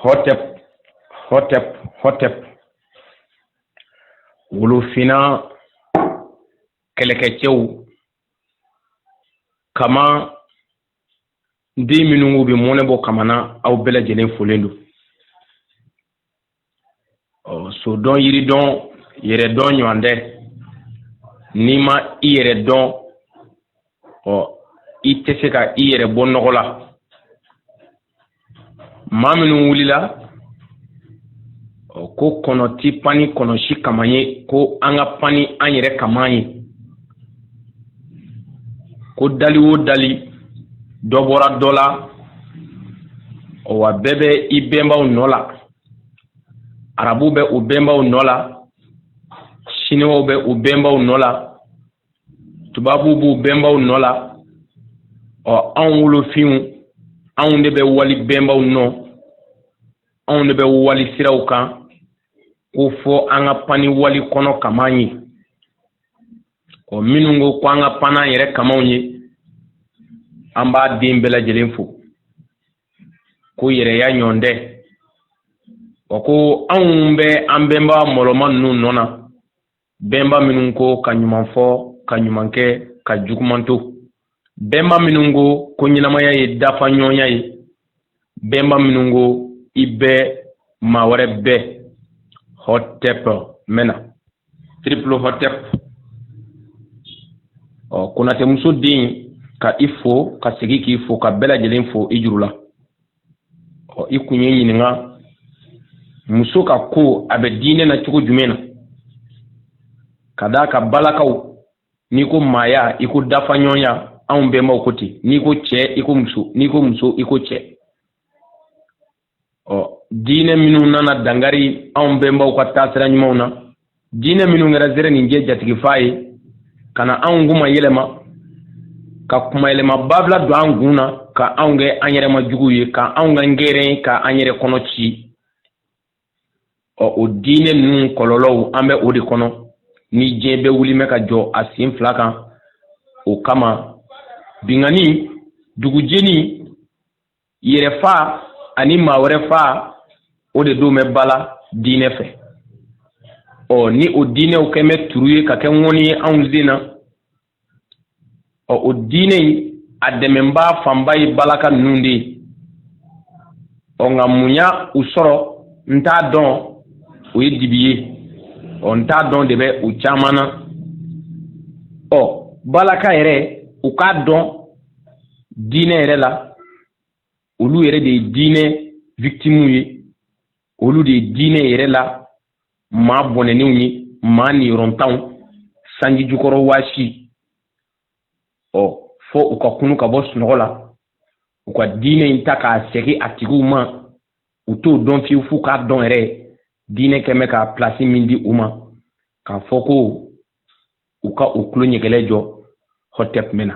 hotep hotep hotep wolofinna kɛlɛkɛcɛw kama den minnu bɛ mɔnɛ bɔ kama na aw bɛɛ lajɛlen folen don ɔ so dɔn yiri dɔn yɛrɛ dɔn ɲɔgɔn tɛ n'i ma i yɛrɛ dɔn ɔ i tɛ se ka i yɛrɛ bɔ nɔgɔ la maa minnu wulila ɔ ko kɔnɔ ti pan ni kɔnɔ si kaman ye ko an ka pan ni an yɛrɛ kaman ye ko dali o dali dɔ bɔra dɔ la wa bɛɛ bɛ i bɛnbaw nɔ la arabu bɛ u bɛnbaw nɔ la siniwaw bɛ u bɛnbaw nɔ la tubabuw b'u bɛnbaw nɔ la ɔ anw wolofinw anw de bɛ wali bɛnbaw nɔ anw de bɛ wali siraw kan ko fo an ka pan ni wali kɔnɔ kaman ye ɔ minnu ko ko an ka pan n'an yɛrɛ kamanw ye an b'a den bɛɛ lajɛlen fo ko yɛrɛya ɲɔgɔn tɛ ɔ ko anw bɛ an bɛnba mɔlɔma ninnu nɔ na bɛnba minnu ko ka ɲuman fɔ ka ɲuman kɛ ka juguman to bɛnba minnu ko ko ɲɛnamaya ye dafaɲɔgɔnya ye bɛnba minnu ko i bɛ maa wɛrɛ bɛ hotep mɛna triple hotep ɔ konatɛmuso den ka i fo ka segin k'i fo ka bɛɛ lajɛlen fo i juru la ɔ i kun ye ɲininka muso ka ko a bɛ diinɛ na cogo jumɛn na ka d'a kan balakaw n'i ko maaya i ko dafaɲɔgɔnya anw bɛnbaw ko ten n'i ko cɛ i ko muso n'i ko muso i ko cɛ ɔ diinɛ minnu nana dankari anw bɛnbaw ka taasira ɲumanw na diinɛ minnu kɛra zereninjɛ jatigifaa ye ka na anw kunmayɛlɛma ka kunmayɛlɛma banfila don an kun na ka anw kɛ an yɛrɛmajuguw ye ka anw ka ngɛrɛn ka an yɛrɛ kɔnɔ ci ɔ o diinɛ ninnu kɔlɔlɔw an bɛ o de kɔnɔ ni diɲɛ bɛɛ wuli bɛ ka jɔ a sen fila kan o kama binkanni dugujeni yɛrɛfaa ani maa wɛrɛ faa o de don bɛ ba la diinɛ fɛ ɔ ni o diinɛw kɛn bɛ turu ye ka kɛ ŋɔni ye anw sen na ɔ o diinɛ in a dɛmɛnbaa fanba ye balaka ninnu de ye ɔ nka mun y'a u sɔrɔ n t'a dɔn o ye dibi ye ɔ n t'a dɔn de bɛ u caman na ɔ balaka yɛrɛw k'a dɔn diinɛ yɛrɛ la olu yɛrɛ de ye diinɛ victimuw ye olu de ye diinɛ yɛrɛ la maa bɔnɛnenw ye maa niyɔrɔntanw sanji jukɔrɔ waasi ɔ fɔ u ka kunun ka bɔ sunɔgɔ la u ka diinɛ in ta k'a sɛgi a tigiw ma u t'o dɔn fiyewu f'u k'a dɔn yɛrɛ diinɛ kɛ mɛ ka pilasi min di u ma k'a fɔ ko u ka u tulo ɲɛgɛlɛ jɔ hɔtɛp mɛn na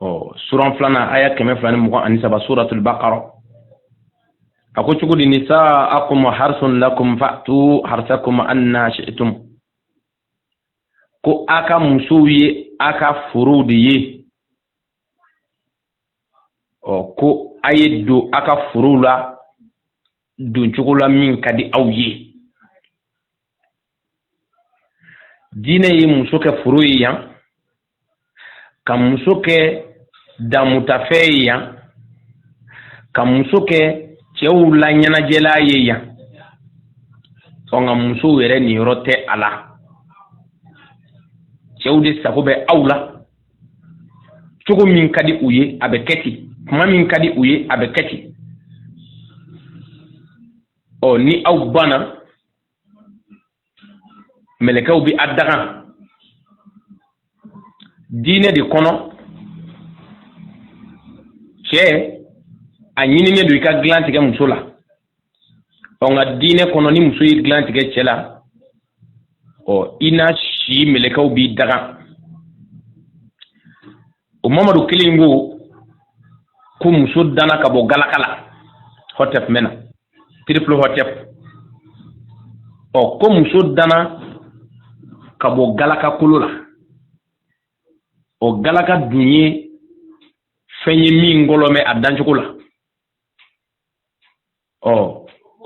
ɔ suran filanan aya kɛmɛ fila ni mugan ani saba suratul baqara a ko cogo di nisaakum harsun lakum fa'tu harsakum anna shi'tum ko a ka musow ye a ka forow de ye ɔ ko a ye don a ka forow la don cogo la min ka di aw ye diinɛ ye muso kɛ foro ye yan ka muso kɛ damutafɛn ye yan ka muso kɛ cɛw la ɲɛnajɛlan ye yan ɔ nka musow yɛrɛ niyɔrɔ tɛ a la cɛw de sago bɛ aw la cogo min ka di u ye a bɛ kɛ ten kuma min ka di u ye a bɛ kɛ ten ɔ ni aw banna mɛlɛkɛw bi a danga diinɛ de kɔnɔ cɛ a ɲininen don i ka dilan tigɛ muso la ɔ nka diinɛ kɔnɔ ni muso ye dilan tigɛ cɛ la ɔ i na si mɛlɛkɛw b'i danga o mamadu kelen ko ko muso danna ka bɔ galaka la hɔtɛp mɛn na triple hɔtɛp ɔ ko muso danna ka bɔ galaka kolo la o galaka dun ye fɛn ye min gɔlɔnnen a dancogo la ɔ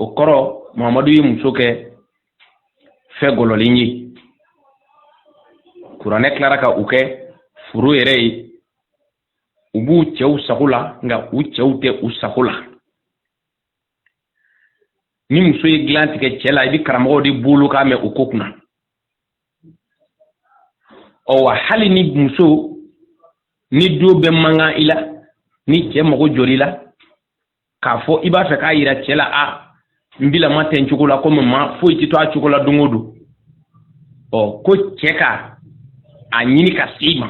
o kɔrɔ mamadu ye muso kɛ fɛn gɔlɔlen ye kuranɛ tilara ka u kɛ foro yɛrɛ ye u b'u cɛw sago la nka u cɛw tɛ u sago la ni muso ye dilan tigɛ cɛ la i bɛ karamɔgɔw de bolo kan mɛn o ko kunna ɔ wa hali ni muso ni do bɛ mankan i la ni cɛ mago jɔra i la k'a fɔ i b'a fɛ k'a yira cɛ la a n bila ma tɛ n cogo la komi maa foyi tɛ to a cogo la don o don ɔ ko cɛ ka a ɲini ka se i ma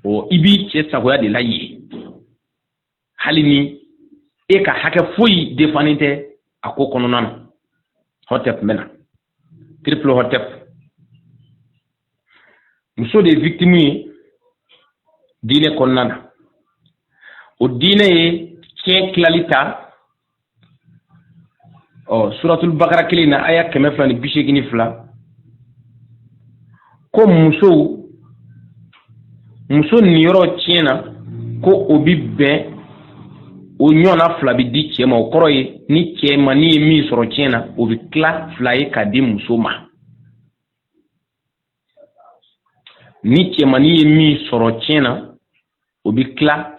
ɔ i b'i cɛ sagoya de la yen hali ni e ka hakɛ foyi defannen tɛ a ko kɔnɔna na hɔtɛp mɛn na triple hotep muso de ye victime ye diinɛ kɔnɔna na o diinɛ ye tiɲɛ tilali ta ɔ suratul bakara kelen na aya kɛmɛ fila ni bi seegin ni fila ko muso muso niyɔrɔ tiɲɛ na ko o bi bɛn o ɲɔgɔnna fila bɛ di cɛ ma o kɔrɔ ye ni cɛmannin ye min sɔrɔ tiɲɛ na o bɛ tila fila ye ka di muso ma ni cɛmannin ye min sɔrɔ tiɲɛ na o bɛ tila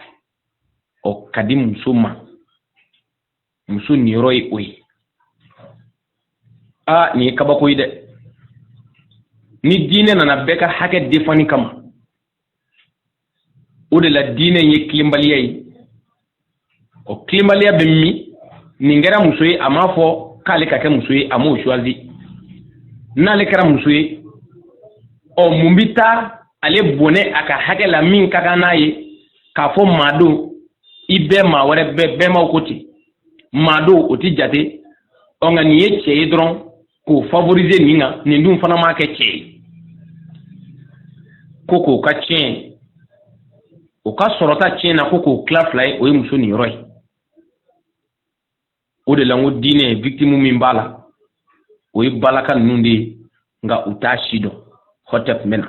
ɔ ka di muso ma muso niyɔrɔ ye o ye aa nin ye kabako ye dɛ ni diinɛ nana bɛɛ ka hakɛ defanni kama o de la diinɛ in ye tilenbaliya ye o tilenbaliya bɛ min nin kɛra muso ye a m'a fɔ k'ale ka kɛ muso ye a m'o choisi n'ale kɛra muso ye ɔ mun bɛ taa ale bɔnɛ a ka hakɛ la min ka kan n'a ye k'a fɔ maadenw i bɛɛ maa wɛrɛ bɛɛ bɛmaw ko ten maadenw o ti jate ɔ nka nin ye cɛ ye dɔrɔn k'o favoriser nin kan nin dun fana m'a kɛ cɛ ye ko k'o ka tiɲɛ o ka sɔrɔta tiɲɛ na ko k'o tila fila ye o ye muso niyɔrɔ ye o de la n ko diinɛ victime min b'a la o ye balaka ninnu de ye nka u t'a si dɔn hotep mɛna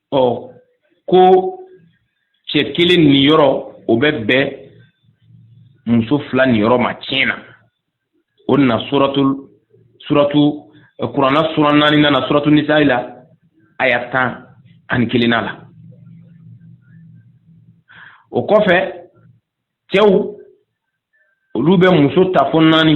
ɔ ko cɛ kelen niyɔrɔ o bɛ bɛn muso fila niyɔrɔ ma tiɲɛ na o nana suratu suratu kurana sura naaninan na suratu nisayi la aya tan ani kelennan la o kɔfɛ cɛw olu bɛ muso ta fo naani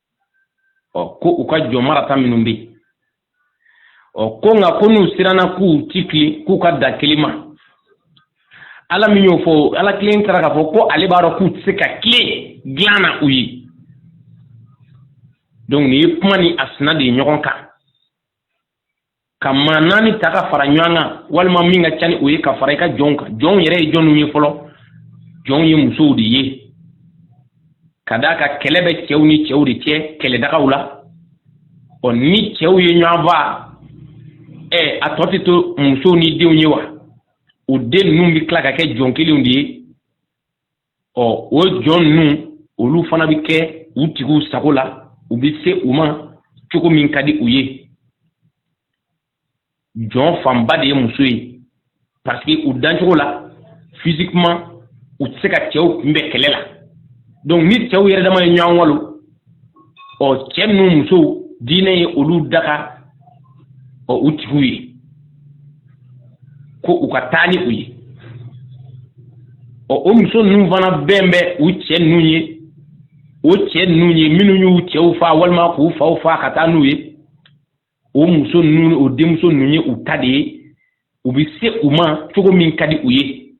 ɔ ko u ka jɔn marata minnu bɛ yen ɔ ko nka ko n'u siranna k'u ti tilen k'u ka dan kelen ma ala min y'o fɔ ala kelen taara k'a fɔ ko ale b'a dɔn k'u tɛ se ka tilen dilan na u ye donc nin ye kuma ni a sina de ye ɲɔgɔn kan ka maa naani ta ka fara ɲɔgɔn kan walima min ka ca ni o ye ka fara i ka jɔnw kan jɔnw yɛrɛ ye jɔniw ye fɔlɔ jɔnw ye musow de ye ka d'a kan kɛlɛ bɛ cɛw ni cɛw de cɛ kɛlɛdagaw la ɔ ni cɛw ye ɲɔgɔn faga ɛ a tɔ tɛ to musow ni denw ye wa o den ninnu bɛ tila ka kɛ jɔn kelenw de ye ɔ o jɔn ninnu olu fana bɛ kɛ u tigiw sago la u bɛ se u ma cogo min ka di u ye jɔn fanba de ye muso ye parce que u dancogo la physiquement u tɛ se ka cɛw kunbɛn kɛlɛ la donc ni cɛw yɛrɛ dama ye ɲɔgɔn walon ɔ cɛ ninnu musow diinɛ ye olu daga ɔ u tigiw ye ko u ka taa ni u ye ɔ o muso ninnu fana bɛn bɛ u cɛ ninnu ye o cɛ ninnu ye minnu y'u cɛw faa walima k'u faw faa ka taa n'u ye o muso ninnu o denmuso ninnu ye u ta de ye u bɛ se u ma cogo min ka di u ye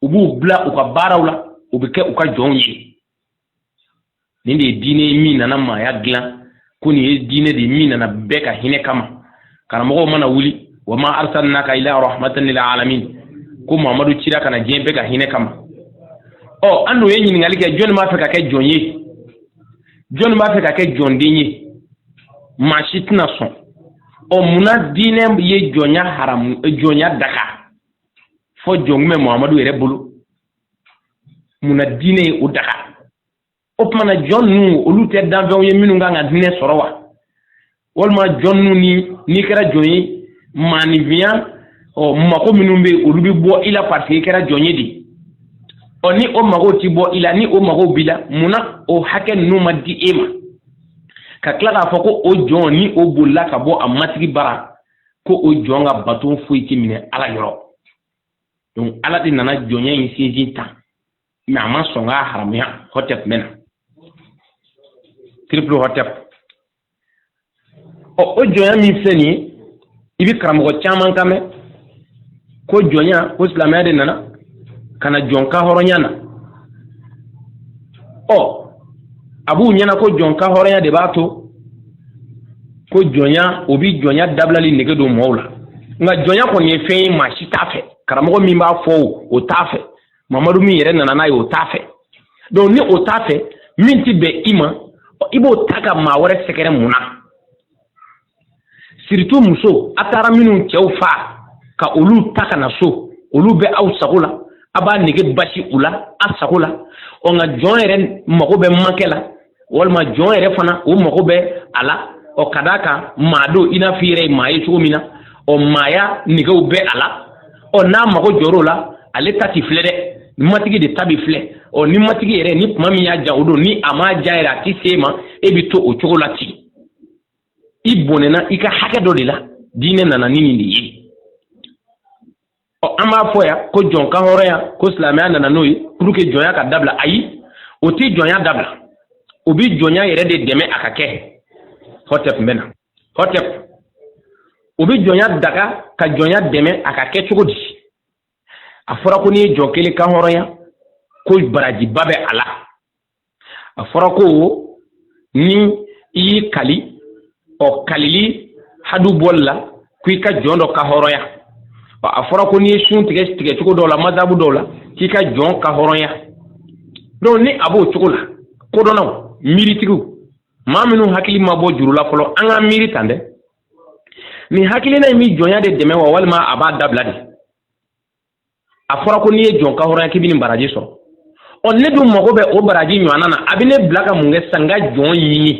u b'u bila u ka baaraw la u bɛ kɛ u ka jɔnw ye nin de ye diinɛ ye min nana maaya dilan ko nin ye diinɛ de ye min nana bɛɛ ka hinɛ kama karamɔgɔw mana wuli wa ma arsalnaka ila rahmatan lil alamin ko mamadu cira ka na diɲɛ bɛɛ ka hinɛ kama ɔ an de ye ɲininkali kɛ jɔnni b'a fɛ ka kɛ jɔn ye jɔnni b'a fɛ ka kɛ jɔnden ye maa si tɛna sɔn ɔ munna diinɛ ye jɔnya haramu jɔnya daga fo jɔn tun bɛ mamadu yɛrɛ bolo mun na diinɛ ye o daga o tuma na jɔn ninnu olu tɛ danfɛnw ye minnu kan ka hinɛ sɔrɔ wa walima jɔn ninnu ni n'i kɛra jɔn ye maaninfinya ɔ mago minnu bɛ olu bɛ bɔ i la parce que i kɛra jɔn ye de ɔ ni o mago ti bɔ i la ni o mago b'i la mun na o hakɛ ninnu ma di e ma ka tila k'a fɔ ko o jɔn ni o bolila ka bɔ a matigi bara ko o jɔn ka bato foyi ti minɛ ala yɔrɔ donc ala de nana jɔnya in sinsin tan mais a ma sɔn k'a haramuya hɔtɛp mɛna triple hɔtɛp ɔ o jɔnya min filɛ nin ye i bɛ karamɔgɔ caman kan mɛn ko jɔnya ko silamɛya de nana ka na jɔn kanhɔrɔnya na ɔ a b'u ɲɛna ko jɔn kanhɔrɔnya de b'a to ko jɔnya o bi jɔnya dabilali nege don mɔgɔw la nka jɔnya kɔni ye fɛn ye maa si t'a fɛ karamɔgɔ min b'a fɔ o o t'a fɛ mamadu min yɛrɛ nana n'a ye o t'a fɛ donc ni o t'a fɛ min ti bɛn i ma i b'o ta ka maa wɛrɛ sɛgɛrɛ mun na surtout muso a taara minnu cɛw faa ka olu ta ka na so olu bɛ aw sago la a b'a nege basi u la a sago la ɔ nka jɔn yɛrɛ mago bɛ makɛ la walima jɔn yɛrɛ fana o mago bɛ a la ɔ ka d'a kan maa don i n'a fɔ i yɛrɛ ye maa ye cogo min na ɔ maaya negew bɛ a la ɔ n'a mago jɔr'o la ale ta ti filɛ dɛ matigi de ta bi filɛ ɔ ni matigi yɛrɛ ni tuma min y'a ja o don ni a m'a ja yɛrɛ a ti se ma e bi to o cogo la ten i bɔnɛna i ka hakɛ dɔ de la diinɛ nana ni nin de ye ɔ an b'a fɔ yan ko jɔn kanhɔrɔnya ko silamɛya nana n'o ye pour que jɔnya ka dabila ayi o ti jɔnya dabila o bi jɔnya yɛrɛ de dɛmɛ a ka kɛ hɔtɛp mɛna hɔtɛp o bi jɔnya daga ka jɔnya dɛmɛ a ka kɛ cogo di a fɔra ko n'i ye jɔn kelen kanhɔrɔnya ko barajiba bɛ a la a fɔra ko ni i y'i kali ɔ kalili hadu bɔli la ko i ka jɔn dɔ kan hɔrɔnya ɔ a fɔra ko n'i ye sun tigɛ tigɛ cogo dɔw la mazabu dɔw la k'i ka jɔn kan hɔrɔnya donc ni a b'o cogo la kodɔnnaw miiritigiw maa minnu hakili ma bɔ juru la fɔlɔ an ka miiri tan dɛ nin hakilina in bɛ jɔnya de dɛmɛ wa walima a b'a dabila de a fɔra ko n'i ye jɔn kan hɔrɔnya k'i bɛ nin baraji sɔrɔ ɔ ne dun mago bɛ o baraji ɲɔgɔnna na a bɛ ne bila ka mun kɛ sisan n ka jɔn ɲini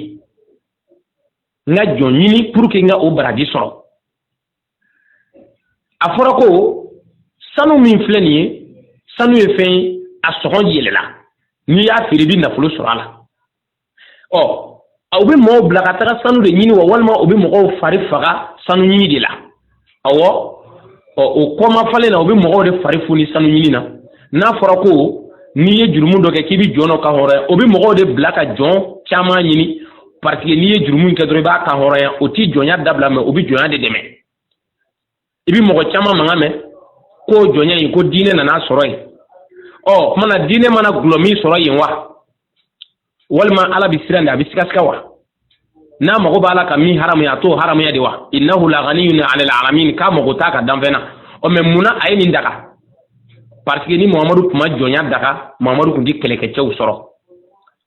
n ka jɔn ɲini pour que n ka o baraji sɔrɔ a fɔra ko sanu min filɛ nin ye sanu ye fɛn ye a sɔngɔ yɛlɛla n'i y'a feere i bɛ nafolo sɔrɔ a la ɔ o bɛ mɔgɔw bila ka taga sanu de ɲini wa walima o bɛ mɔgɔw fari faga sanu ɲini de la awɔ ɔ o kɔmafalen na o bɛ mɔgɔw de fari foni sanu ɲini na n'a fɔra ko n'i ye jurumu dɔ kɛ k'i bɛ jɔn dɔ kan hɔrɔnya o bɛ mɔgɔw de bila ka jɔn caman ɲini parce que n'i ye jurumu in kɛ dɔrɔn i b'a kan hɔrɔnya o tɛ jɔnya dabila mɛ o bɛ jɔnya de dɛmɛ i bɛ mɔgɔ caman mankan mɛn ko jɔnya in ko diinɛ nan'a sɔrɔ yen ɔ o tuma na diinɛ mana gulɔ min sɔrɔ yen wa walima ala bɛ siran de a bɛ sigasiga wa n'a mago b'a la ka min haramuya a t'o haramuya de wa innahu laganiyun anil alamin k'a mago t'a ka danfɛn na ɔ mɛ mun na a ye nin daga parce que ni mamadu tun ma jɔnya daga mamadu tun tɛ kɛlɛkɛcɛw sɔrɔ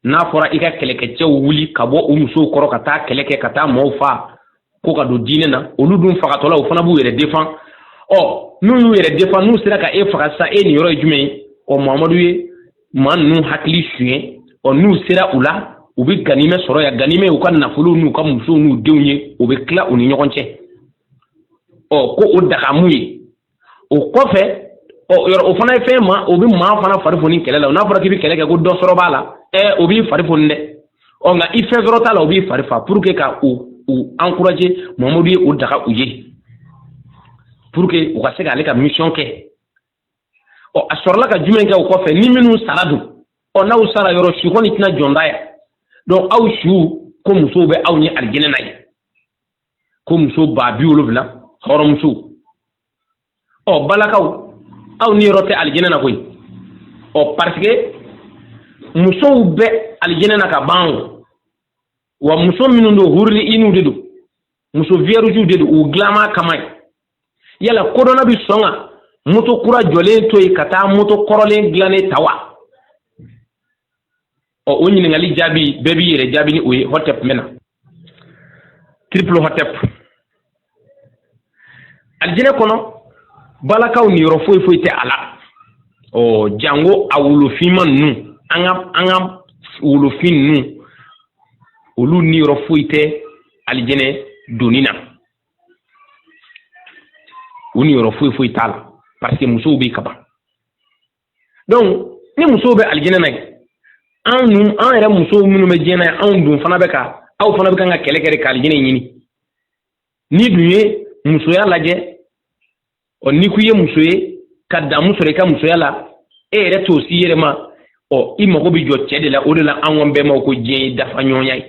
n'a fɔra i ka kɛlɛkɛcɛw wuli ka bɔ u musow kɔrɔ ka taa kɛlɛ kɛ ka taa maaw faa ko ka don diinɛ na olu dun fagatɔla u fana b'u yɛrɛ defan ɔ n'u y'u yɛrɛ defan n'u sera ka e faga sisan e niyɔrɔ ye jumɛn ye ɔ mamadu ye maa ninnu hakili suɲɛ ɔ n'u sera u la u bɛ ganimɛ sɔrɔ yan ganimɛ ye u ka nafolow n'u ka musow n'u denw ye u bɛ tila u ni ɲɔgɔn cɛ ɔ ko o dagamu ye o kɔfɛ ɔ, yɔrɔ o fana ye fɛn ma o bɛ maa fana fari foni kɛlɛ la n'a fɔra k'i bɛ kɛlɛ kɛ ko dɔ sɔrɔ b'a la ɛ o b'i fari foni dɛ ɔ nka ni fɛn sɔrɔ t'a la o b'i fari faa pour que ka u u encourager mamadu ye o daga u ye pour que u ka se k'ale ka mission kɛ ɔ a sɔrɔla ka jumɛn kɛ o kɔfɛ ni minnu sara dun ɔ n'aw sara yɔrɔ su kɔni tɛna jɔn ta yan donc aw su ko musow bɛ aw ye alijinɛ na yen ko muso ba biwolonwula hɔrɔnmusow ɔ balakaw aw niyɔrɔ tɛ alijinɛ na koyi ɔ parce que musow bɛ alijinɛ na ka ban o wa muso minnu don huruli iniw de don muso viyɛrijiw de don u dilanma kama yen yala kodɔnna bɛ sɔn ka moto kura jɔlen to yen ka taa moto kɔrɔlen dilannen ta wa ɔ o ɲininkali jaabi bɛɛ b'i yɛrɛ jaabi ni o ye hɔtɛp mɛna triple hɔtɛp alijinɛ kɔnɔ balakaw niyɔrɔ foyi foyi tɛ a la ɔ jango a wolofinma ninnu an ka an ka wolofin ninnu olu niyɔrɔ foyi tɛ alijinɛ donni na u niyɔrɔ foyi foyi t'a la parce que musow bɛ yen kaban ni musow bɛ alijinɛ na anw dun an yɛrɛ musow minnu bɛ diɲɛ na anw dun fana bɛ ka aw fana bɛ kan ka kɛlɛ kɛ de ka alijinɛ ɲini n'i dun ye musoya lajɛ ɔ n'i ko i ye muso ye ka damu sɔrɔ i ka musoya la e yɛrɛ t'o s'i yɛrɛ ma ɔ i mago bɛ jɔ cɛ de la o de la anw bɛnbaw ko diɲɛ ye dafa ɲɔgɔnya ye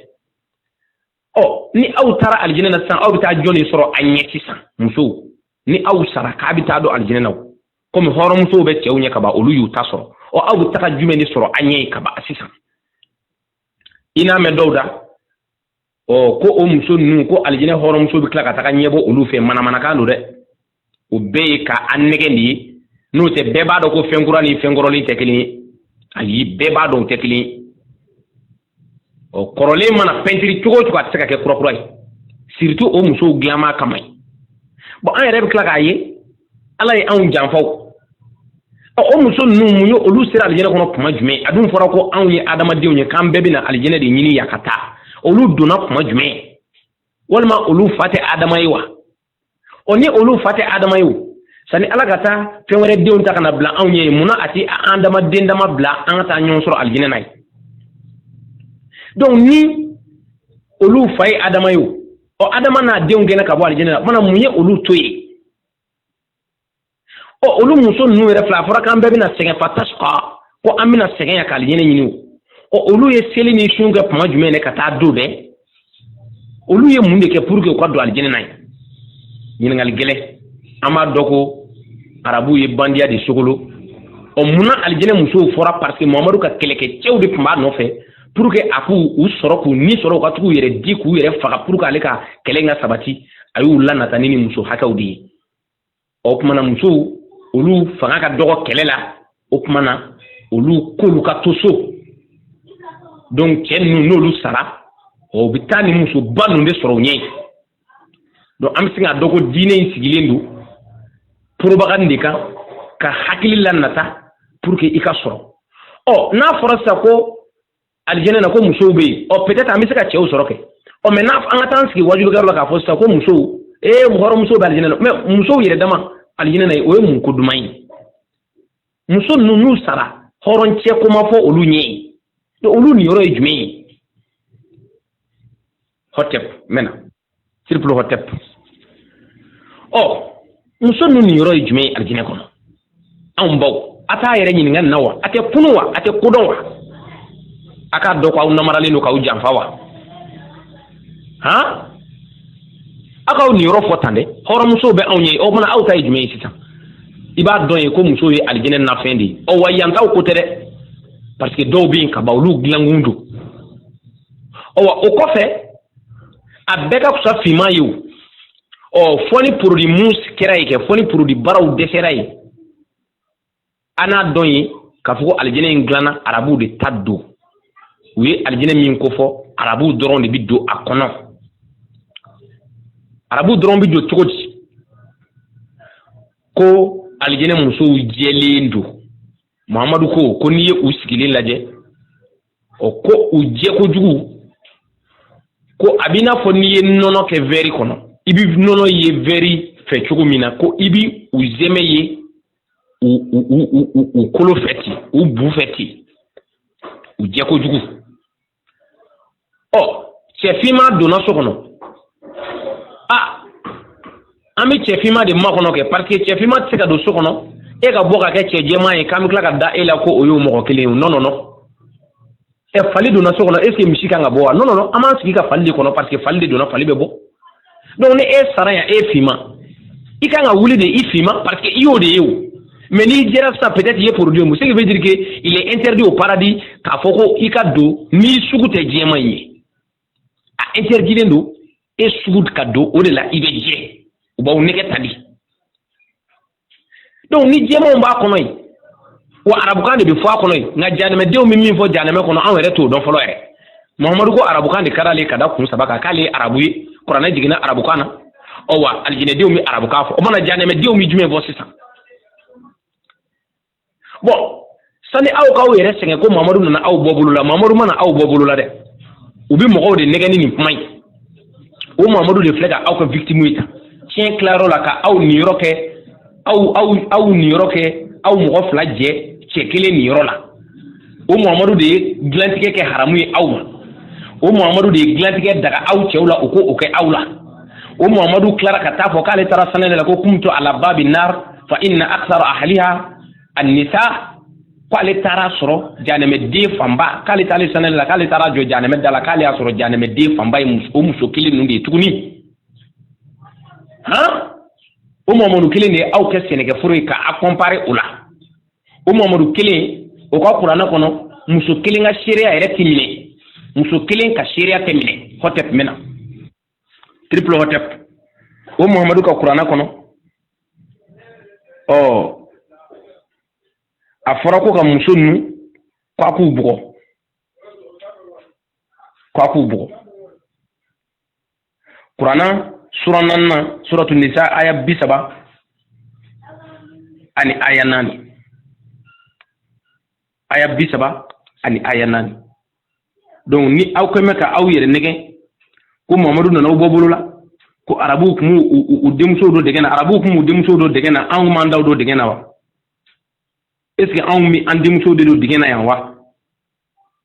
ɔ ni aw taara alijinɛ na sisan aw bɛ taa jɔn de sɔrɔ a ɲɛ sisan musow ni aw sara k'a bɛ taa don alijinɛ na komi hɔrɔnmusow bɛ cɛw ɲɛ kaban olu y'u ta sɔrɔ ɔ aw bɛ taga jumɛn de sɔrɔ a ɲɛ yen kaban sisan i n'a mɛn dɔw da ɔ ko o muso ninnu ko alijinɛ hɔrɔnmuso bɛ tila ka taga ɲɛbɔ olu fɛ manamanakan don dɛ o bɛɛ ye ka an nɛgɛn de ye n'o tɛ bɛɛ b'a dɔn ko fɛn kura ni fɛn kɔrɔlen tɛ kelen ye ayi bɛɛ b'a dɔn o tɛ kelen ye ɔ kɔrɔlen mana pɛntiri cogo o cogo a tɛ se ka kɛ kurakura ye surtout o musow dilanma kama yen bon an yɛrɛ bɛ tila k'a ye ala ye anw janfa ɔ o muso ninnu mun ye olu sera alijɛnɛ kɔnɔ kuma jumɛn a dun fɔra ko anw ye adamadenw ye k'an bɛɛ bɛna alijɛnɛ de ɲini yan ka taa olu donna kuma jumɛn walima olu fa tɛ adama ye wa o ni olu fa tɛ adama ye o sani ala ka taa fɛn wɛrɛ denw ta ka na bila anw ye yen munna a tɛ adamaden dama bila an ka taa ɲɔgɔn sɔrɔ alijinɛ na yen donc ni olu fa ye adama ye o ɔ adama n'a denw gɛnna ka bɔ alijinɛ na o kuma na mun ye olu to yen ɔ olu muso ninnu yɛrɛ filɛ a fɔra k'an bɛɛ bɛna sɛgɛn fa tasi ka ko an bɛna sɛgɛn yan k'alijɛnɛ ɲini o ɔ olu ye seli ni sun kɛ kuma jumɛn de ka taa don bɛɛ olu ye mun de kɛ pour que u ka don alijɛnɛ na yen ɲininkali gɛlɛn an b'a dɔn ko arabuw ye bandiya de sogolo ɔ munna alijɛnɛ musow fɔra parce que mohamadu ka kɛlɛkɛcɛw de tun b'a nɔfɛ pour que a k'u u sɔrɔ k'u ni sɔrɔ u ka tag'u yɛrɛ di k'u yɛrɛ faga pour que ale ka kɛlɛ ka sabati a y'u lanata ni ni muso hakɛw de ye o tuma na musow olu fanga ka dɔgɔ kɛlɛ la o tuma na olu k'olu ka to so donc cɛ ninnu n'olu sara u bɛ taa nin musoba ninnu de sɔrɔ u ɲɛ yen donc an bɛ se k'a dɔn ko diinɛ in sigilen don propagande de kan ka hakili lanata pour que i ka sɔrɔ ɔ n'a fɔra sisan ko alijɛnɛ na ko musow bɛ yen ɔ peut-être an bɛ se ka cɛw sɔrɔ kɛ ɔ mais an ka taa an sigi wajulukɛyɔrɔ la k'a fɔ sisan ko musow ee hɔrɔnmusow bɛ alijɛnɛ na mais musow yɛrɛ dama alijɛnɛ na o ye mun ko duman ye muso ninnu n'u sara hɔrɔncɛ ko ma fɔ olu ɲɛ ye olu niyɔrɔ ye jumɛn ye hotep mɛna siripulu hotep ɔ muso ninnu niyɔrɔ ye jumɛn ye alijinɛ kɔnɔ anw baw a t'a yɛrɛ ɲininka nin na wa a tɛ kunun wa a tɛ ko dɔn wa a k'a dɔn ko aw namaralen don k'aw janfa wa han aw k'aw niyɔrɔ fɔ tan dɛ hɔrɔnmusow bɛ anw ye o tuma aw ta ye jumɛn ye sisan i b'a dɔn ye ko muso ye alijinɛ nafɛn de ye ɔ wa yankaw ko tɛ dɛ parce que dɔw bɛ yen ka ban olu dilankun don ɔ wa o kɔfɛ a bɛɛ ka fisa finman ye o ɔ fɔ ni produit mun kɛra yen kɛ fɔ ni produit baraw dɛsɛra yen an n'a dɔn ye k'a fɔ ko alijinɛ in dilanna arabuw de ta don u ye alijinɛ min ko fɔ arabuw dɔrɔn de bɛ don a kɔnɔ arabuw dɔrɔn bɛ don cogo di ko alijinɛ musow jɛlen don muhamadu ko ko n'i ye u sigilen lajɛ ɔ ko u jɛkojugu ko a b'i n'a fɔ n'i ye nɔnɔ kɛ wɛri kɔnɔ i bɛ nɔnɔ ye wɛri fɛ cogo min na ko i bɛ u sɛmɛ ye u u u u u kolo fɛ ten u bu fɛ ten u jɛkojugu ɔ cɛfinma donna so kɔnɔ a an bɛ cɛfinma de makɔnɔ kɛ paseke cɛfinma tɛ se ka don so kɔnɔ e ka bɔ ka kɛ cɛ jɛman ye k'an bɛ tila ka da e la ko o y'o mɔgɔ kelen ye o nɔnɔnɔ ɛ fali donna so kɔnɔ est ce que misi kan ka bɔ wa nɔnɔnɔ an b'an sigi ka fali de kɔnɔ paseke fali de donna fali bɛ bɔ donc ni e sara yan e finman i kan ka wuli de i finman parce que i y'o de ye o mais n'i jɛra sisan peut-être i ye produit mun ce qui veut dire que il est interdit au paradis k'a fɔ ko i ka don n'i sugu tɛ jɛman in ye a interdilen don e sugu ka don o de la i bɛ jɛ u b'aw nɛgɛn tan de donc ni jɛmanw b'a kɔnɔ yen wa arabukan de bɛ fɔ a kɔnɔ yen nka janɛmɛdenw bɛ min fɔ janɛmɛ kɔnɔ anw yɛrɛ t'o dɔn fɔlɔ yɛrɛ muhamadu ko arabukan de ka d'ale ye ka da kun saba kan k'ale ye arabu ye kuranɛ jiginna arabukan na ɔ wa alijinɛdenw bɛ arabukan fɔ o tuma na janɛmɛdenw bɛ jumɛn fɔ sisan bɔn sani aw k'aw yɛrɛ sɛgɛn ko mamadu nana aw bɔ bolo la mamadu ma na aw bɔ bolo la dɛ u bɛ mɔgɔw de nɛgɛn ni nin kuma ye o mamadu de filɛ ka aw kɛ victime ye tan tiɲɛ tilayɔrɔ la ka aw niyɔrɔ kɛ aw aw aw niyɔrɔ kɛ aw mɔgɔ fila jɛ cɛ kelen niyɔrɔ la o muhamadu de ye dilantigɛ kɛ haramu ye aw ma o muhamadu de ye dilantigɛ daga aw cɛw la u k'o kɛ aw la o muhamadu tilara ka t'a fɔ k'ale taara sanyɛlɛ la ko kumtu ala babi nar fa inna aksara ahliha annisa k'ale taar'a sɔrɔ janɛmɛden fanba k'ale taalen sanyɛlɛ la k'ale taara jɔ janɛmɛ da la k'ale y'a sɔrɔ janɛmɛden fanba ye o muso kelen ninnu de ye tuguni han o muhamadu kelen de ye aw kɛ sɛnɛkɛforo ye ka a kɔnpare o la o mahamadu kelen o ka kuranɛ kɔnɔ muso kelen ka seereya yɛrɛ tɛ minɛ muso kelen ka seereya tɛ minɛ hotep mɛna triple hotep o mahamadu ka kuranɛ kɔnɔ ɔ a fɔra ko ka muso ninnu ko a k'u bugɔ ko a k'u bugɔ kuranɛ sura naaninan suratu nisa aya bi saba ani aya naani aya bi saba ani aya naani donc ni aw kɛ mɛ ka aw yɛrɛ nɛgɛn ko mahamadu nana aw bɔ bolo la ko arabuw kun u denmusow don dingɛ na arabuw kun u denmusow don dingɛ na anw m'an taw don dingɛ na wa est ce que anw mi an denmusow de don dingɛ na yan wa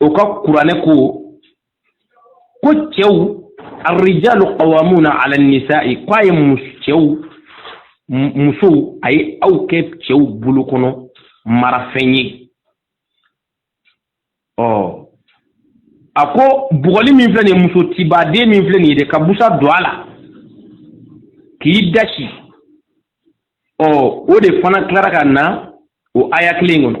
o ka kuranɛ ko ko cɛw arrijalu qawamuna ala nisa'i ko a ye cɛw musow a ye aw kɛ cɛw bolo kɔnɔ marafɛn ye ɔ a ko bugɔli min filɛ nin ye muso tibaden min filɛ nin ye dɛ ka busan don a la k'i dasi ɔ o de fana tilara ka na o aya kelen kɔnɔ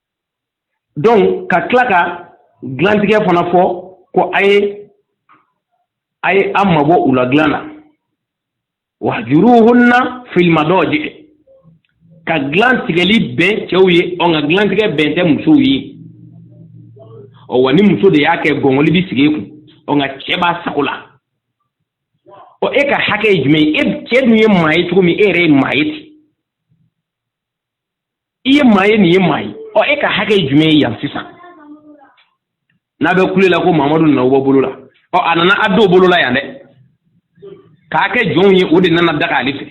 donc ka tila ka dilantigɛ fana fɔ ko a ye a ye aw mabɔ u la dilan na wajuruhunna fil madaji ka dilan tigɛli bɛn cɛw ye ɔ nka dilantigɛ bɛn tɛ musow ye ɔ wa ni muso de y'a kɛ gɔngɔli bi sigi e kun ɔ nka cɛ b'a sago la ɔ e ka hakɛ ye jumɛn ye e cɛ dun ye maa ye cogo min e yɛrɛ ye maa ye ten i ye maa ye nin ye maa ye ɔ e ka hakɛ ye jumɛn ye yan sisan n'a bɛ kule la ko mamadu nana aw bɔ bolo la ɔ a nana a don bolo la yan dɛ k'a kɛ jɔnw ye o de nana daga ale fɛ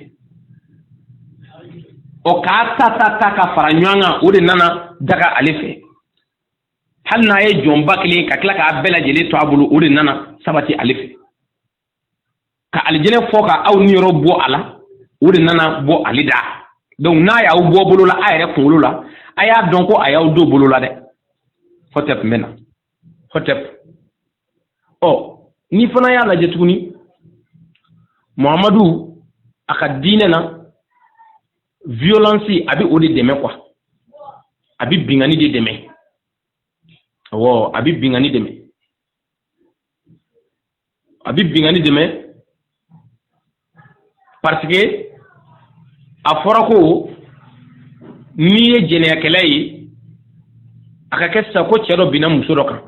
ɔ k'a ta ta ta ka fara ɲɔgɔn kan o de nana daga ale fɛ hali n'a ye jɔn ba kelen ka tila k'a bɛɛ lajɛlen to a bolo o de nana sabati ale fɛ ka alijinɛ fɔ ka aw niyɔrɔ bɔ a la o de nana bɔ ale da donc n'a y'aw bɔ bolo la a yɛrɛ kunkolo la a y'a dɔn ko a y'aw don bolo la dɛ hɔtɛp n bɛ na hɔtɛp ɔ n'i fana y'a lajɛ tuguni muhamadu a ka diinɛ na violence a bɛ o de dɛmɛ quoi a bɛ binkanni de dɛmɛ awɔ a bɛ binkanni dɛmɛ a bɛ binkanni dɛmɛ parce que a fɔra ko n'i ye jɛnɛyakɛla ye a ka kɛ sisan ko cɛ dɔ binna muso dɔ kan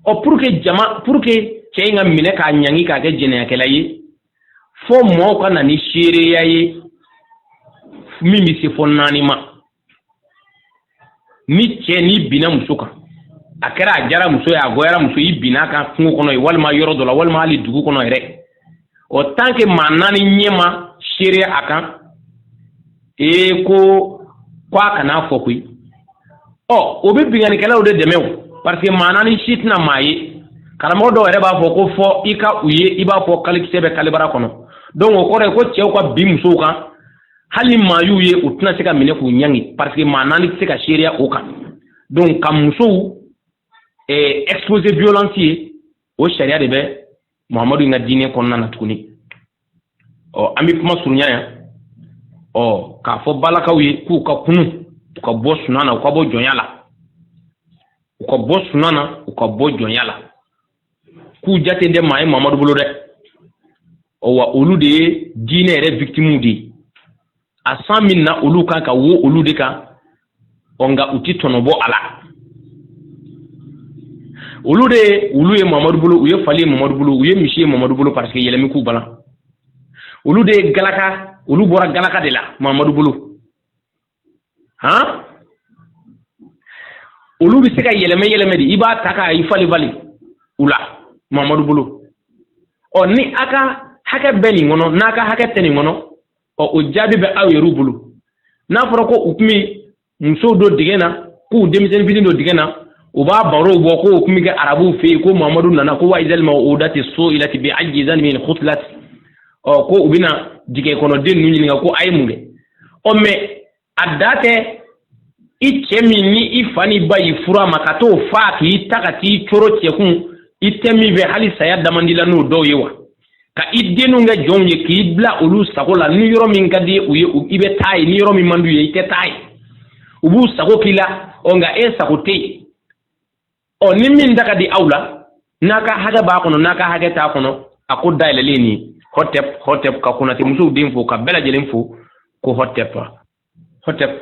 ɔ pour que jama pour que cɛ in ka minɛ k'a ɲangi k'a kɛ jɛnɛyakɛla ye fo mɔɔw ka na ni seereya ye min bɛ se fo naani ma ni cɛ n'i binna muso kan a kɛra a diyara muso ye a goyara muso ye i binna a kan kungo kɔnɔ ye walima yɔrɔ dɔ la walima hali dugu kɔnɔ yɛrɛ o tant que maa naani ɲɛ ma seereya a kan ee ko ko a kana fɔ koyi ɔ o bɛ binkannikɛlaw de dɛmɛ o parce que maa naani si tɛna maa ye karamɔgɔ dɔw yɛrɛ b'a fɔ ko fo i ka u ye i b'a fɔ kalikisɛ bɛ kalibara kɔnɔ donc o kɔrɔ ye ko cɛw ka bin musow kan hali maa y'u ye u tɛna se ka minɛ k'u ɲangi parce que maa naani tɛ se ka seereya o kan donc ka musow eh, exposer violence ye o sariya de bɛ muhamadu in ka diinɛ kɔnɔna na tuguni ɔ oh, an bɛ kuma surunya yan ɔ oh, k'a fɔ balakaw ye k'u ka kunun u ka bɔ sunan na u ka bɔ jɔnya la u ka bɔ sunan na u ka bɔ jɔnya la k'u jate tɛ maa ye mamadu bolo dɛ wa olu de ye diinɛ yɛrɛ victimes de ye a san min na olu kan ka wo olu de kan ɔ nka u tɛ tɔnɔ bɔ a la olu de ye olu ye mamadu bolo u ye fali ye mamadu bolo u ye misi ye mamadu bolo parce que yɛlɛmi k'u balan olu de ye galaka olu bɔra galaka de la mamadu bolo han olu bɛ se ka yɛlɛmɛ yɛlɛmɛ de i b'a ta ka i fali fali u la mamadu bolo ɔ ni a ka hakɛ bɛ nin kɔnɔ n'a ka hakɛ tɛ nin kɔnɔ ɔ o jaabi bɛ aw yɛrɛw bolo n'a fɔra ko u tun bɛ musow don dingɛ na k'u denmisɛnnin fitini don dingɛ na u b'a barow bɔ ko u tun bɛ kɛ arabuw fɛ yen ko mamadu nana ko wa izal mawudatu suilati bi ayi zanbini kutilat ɔ ko u bɛna dingɛ kɔnɔ den ninnu ɲininka ko a ye mun kɛ ɔ mɛ a da tɛ i cɛ min ni i fa n'i ba y'i furu a ma ka t'o faa k'i ta ka t'i coro cɛ kun i tɛ min fɛ hali saya damandi la n'o dɔw ye wa ka i denw kɛ jɔnw ye k'i bila olu sago la ni yɔrɔ min ka di u ye i bɛ taa yen ni yɔrɔ min man d'u ye i tɛ taa yen u b'u sago k'i la ɔ nka e sago tɛ yen ɔ ni min da ka di aw la n'a ka hakɛ b'a kɔnɔ n'a ka hakɛ t'a kɔnɔ a ko dayɛlɛlen nin hɔtɛp hɔtɛp ka konate musow den fo ka bɛɛ lajɛlen fo ko hɔtɛp hɔtɛp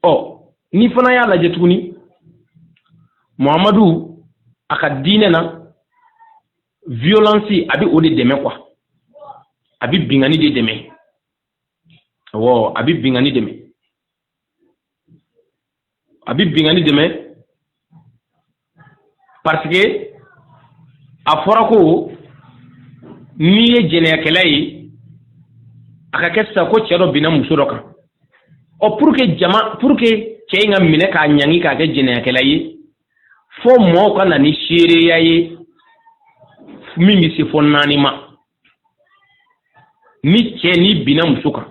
ɔ ni fana y'a lajɛ tuguni muhamadu a ka diinɛ na violence a bɛ o de dɛmɛ quoi a bɛ binkanni de dɛmɛ awɔ a bɛ binkanni dɛmɛ a bɛ binkanni dɛmɛ parce que a fɔra ko n'i ye jɛnɛyakɛla ye a ka kɛ sisan ko cɛ dɔ binna muso dɔ kan ɔ pour que jama pour que cɛ in ka minɛ k'a ɲangi k'a kɛ jɛnɛyakɛla ye fo mɔɔw ka na ni seereya ye min bɛ se fo naani ma ni cɛ nin binna muso kan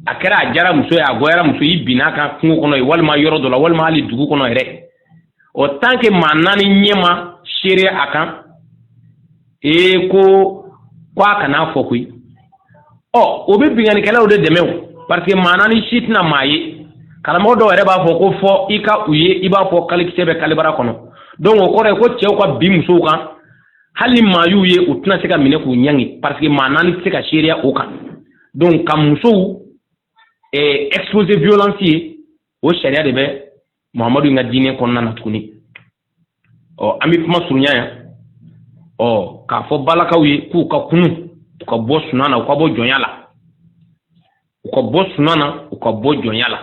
a kɛra a diyara muso ye a goyara muso y'i binna a kan kungo kɔnɔ ye walima yɔrɔ dɔ la walima hali dugu kɔnɔ yɛrɛ o tant que maa naani ɲɛ ma seereya a kan ee ko ko a kana fɔ koyi ɔ o bɛ binkannikɛlaw de dɛmɛ o parce que maa naani si tɛna maa ye karamɔgɔ dɔw yɛrɛ b'a fɔ ko fo i ka u ye i b'a fɔ kalikisɛ bɛ kalibara kɔnɔ donc o kɔrɔ ye ko cɛw ka bin musow kan hali ni maa y'u ye u tɛna se ka minɛ k'u ɲangi parce que maa naani tɛ se ka seereya o kan donc ka musow eh, expose violence ye o sariya de bɛ muhamadu in ka diinɛ kɔnɔna na tuguni ɔ an bɛ kuma surunya yan ɔ k'a fɔ balakaw ye k'u ka kunun u ka bɔ sunan na u ka bɔ jɔnya la u ka bɔ sunan na u ka bɔ jɔnya la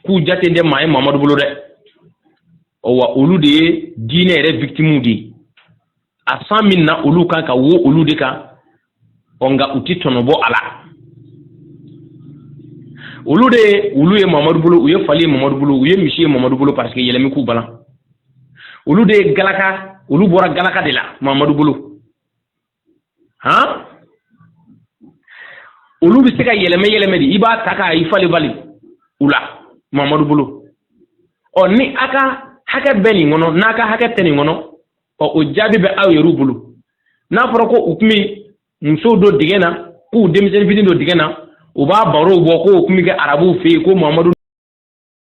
k'u jatelen tɛ maa ye mamadu bolo dɛ wa olu de ye diinɛ yɛrɛ victimes de ye a san bɛ na olu kan ka wo olu de kan ɔ nka u tɛ tɔnɔ bɔ a la olu de ye olu ye mamadu bolo u ye fali ye mamadu bolo u ye misi ye mamadu bolo parce que yɛlɛmi k'u balan olu de ye galaka olu bɔra galaka de la mamadu bolo han olu bɛ se ka yɛlɛmɛ yɛlɛmɛ de i b'a ta ka i falen falen u la muhamadu bolo ɔ ni a ka hakɛ bɛ nin kɔnɔ n'a ka hakɛ tɛ nin kɔnɔ ɔ o jaabi bɛ aw yɛrɛw bolo n'a fɔra ko u tun bɛ musow don dingɛ na k'u denmisɛnnin fitini don dingɛ na u b'a barow bɔ k'o tun bɛ kɛ arabuw fɛ yen ko muhamadu